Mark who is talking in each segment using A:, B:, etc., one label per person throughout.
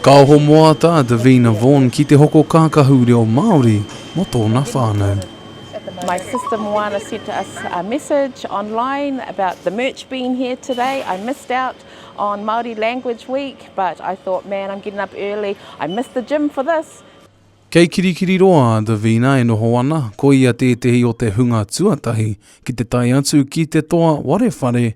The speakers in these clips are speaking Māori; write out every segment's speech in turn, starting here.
A: Ka
B: ohomoata a Davina Vaughan ki te hoko kākahu reo Māori mō tōna
A: whānau. Kei
B: Kirikiriroa a Davina e noho ana, ko ia tētehi o te hunga tuatahi ki te tae atu ki te toa ware whare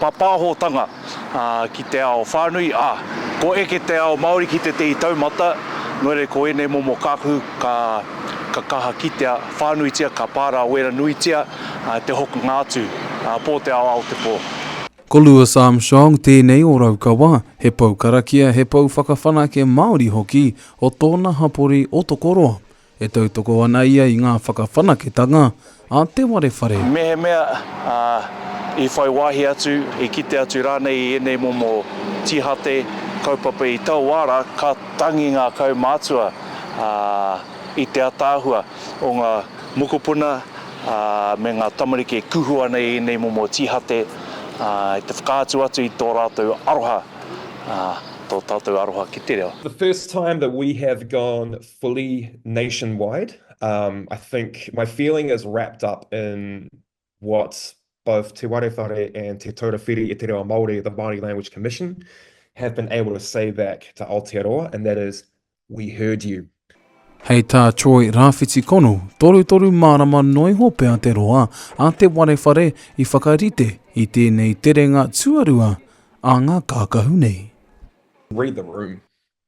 C: Pāpāhotanga ki te ao whānui, ā, kua eke te ao Māori ki tētehi taumata, nō reira ko ēnei momo kākahu ka kaha kitea whānuitia, ka pārāwera nuitia te hokonga atu pō te ao Aotepo. Ko Louis
B: Armstrong tēnei o Raukawa, he pou karakia, he pou whakawhanake Māori hoki o tōna hapori o Tokoroa. E tautoko ana ia i ngā whakawhanaketanga a te ware whare. Mehemea
C: i whai wāhi atu, i kite atu rānei i ēnei momo tīhate, kaupapa i tau wā rā, ka tangi ngā kaumātua i te ataahua o ngā mokopuna me ngā tamariki e kuhu ana i ēnei momo tīhate i te whakaatu atu i tō rātou aroha, tō tātou aroha ki te reo. The first time that
D: we have gone fully nationwide. Um, I think my feeling is wrapped up in what both Te Ware Whare and Te Taura Whiri i te Reo Māori, the Māori Language Commission, have been able to say back to Aotearoa, and that is, we heard you. Hei tā
B: Troy Rāwhiti Kono, torutoru mārama noa iho pea te roa a te warewhare i whakarite i tēnei terenga tuarua a ngā kākahu nei. Read the
D: room.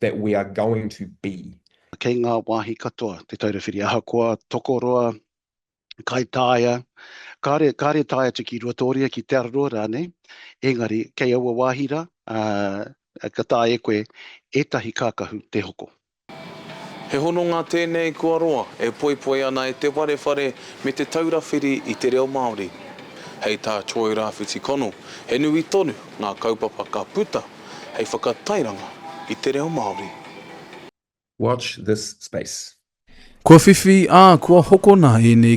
D: that we are going to be. Kei ngā wāhi
E: katoa Te Taura Whiri ahakoa tokoroa, kaitaia, kāre, kāre tae atu ki Ruatōria, ki Te Araroa rānei, engari kei aua wāhi rā, uh, ka tae e koe ētahi kākahu te hoko. He
B: hononga tēnei kua roa e poipoi ana e Te Warewhare me Te Taura Whiri i te Reo Māori. Hei tā Troy Rawhiti Connell, he nui tonu ngā kaupapa ka puta, hei whakatairanga i te reo Māori. Watch
D: this
B: space.
D: Kua
B: whiwhi, ā, kua
D: hokona
B: ēnei